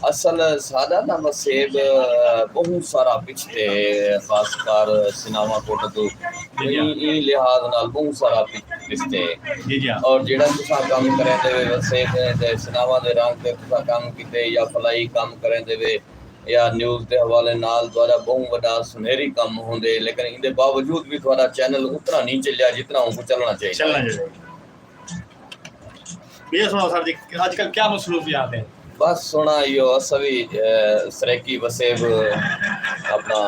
اصل ساݙا تاں وسیب ٻہوں سارا پچھتے ہے خاص کر سناواں کوٹہ توں ایں ایں لحاظ نال ٻہوں سارا پچھتے ہے اور جیڑھا تساں کم کریندے وے وسیب نے تے سناواں دے رنگ تے تساں کم کیتے یا فلائی کم کریندے وے یا نیوز دے حوالے نال تہاݙا ٻہوں وݙا سنہری کم ہوندے لیکن ایندے باوجود وی تہاݙا چینل اتنا نی چلیا جتنا اونکوں چلݨا چاہیدا ہے۔ بھیا سناؤ سر جی اج کل کیا مصروفیات ہیں بس سونا ایو اسا بھی سریکی وسیب اپنا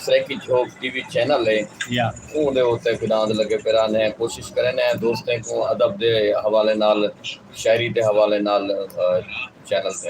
Saraiki Jhok T V channel ہے یا اون دے اوتے گناد لگے پیرا نے کوشش کرے نے دوستیں کو ادب دے حوالے نال شاعری دے حوالے نال چینل تے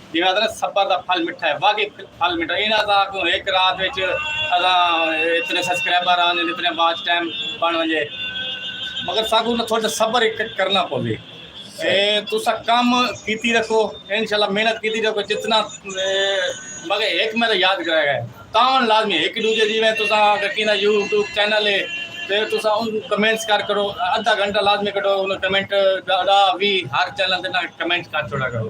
جیویں آہدے نے صبر دا پھل مٹھا ہے واقعی پھل مٹھا ہے انہاں دا کیوں ایک رات وچ اساں اتنے سبسکرائبر آن جن اتنے واچ ٹائم بن ونجے مگر ساکوں نہ تھوڑا صبر کرنا پوے تسا کم کیتی رکھو انشاءاللہ محنت کیتی رکھو جتنا مگر ایک میرا یاد کرے گا تاون لازمی ایک دوجے جیویں تسا اگر کینا یوٹیوب چینل ہے تے تسا ان کمنٹس کر کرو ادھا گھنٹہ لازمی کٹو ان کمنٹ دا وی ہر چینل دے نال کمنٹ کر چھوڑا کرو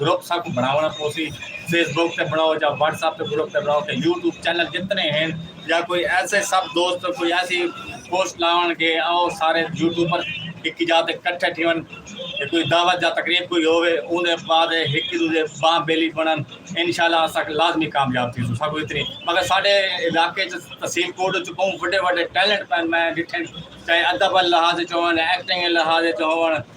گروپ ساکوں بنڑاونڑاں پوسی فیس بک تے بنڑاؤ جا واٹس ایپ تے گروپ تے بنڑاؤ تے یوٹیوب چینل جتنے ہن جا کوئی ایسے سب دوست کوئی ایسی پوسٹ لاونڑ کے او سارے یوٹیوبر ہکی جا تے کٹھے تھیون تے کوئی دعوت جا تقریب کوئی ہووے اون دے بعد ہکی دوجے باں بیلی بنڑن انشاءاللہ اساں لازمی کامیاب تھیسوں ساکوں اتنی مگر ساڈے علاقے چ تحصیل کوٹ وچ بہوں وڈے وڈے ٹیلنٹ پین میں ڈٹھن چاہے ادب لحاظ وچ ہون ایکٹنگ لحاظ وچ ہون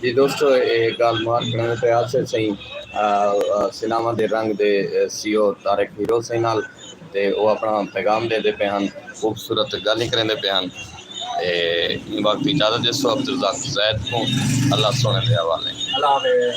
جی دوستو اے گال مار کھڑے نے تے آسے سئیں سیناواں دے رنگ دے سی او طارق ہیرو سئیں نال تے او اپنا پیغام دے دے پے ہن خوبصورت گالیں کریندے پے ہن تے ایں وقت اجازت ڈیسو عبدالرزاق زید کوں اللہ سونے دے حوالے۔ اللہ حافظ۔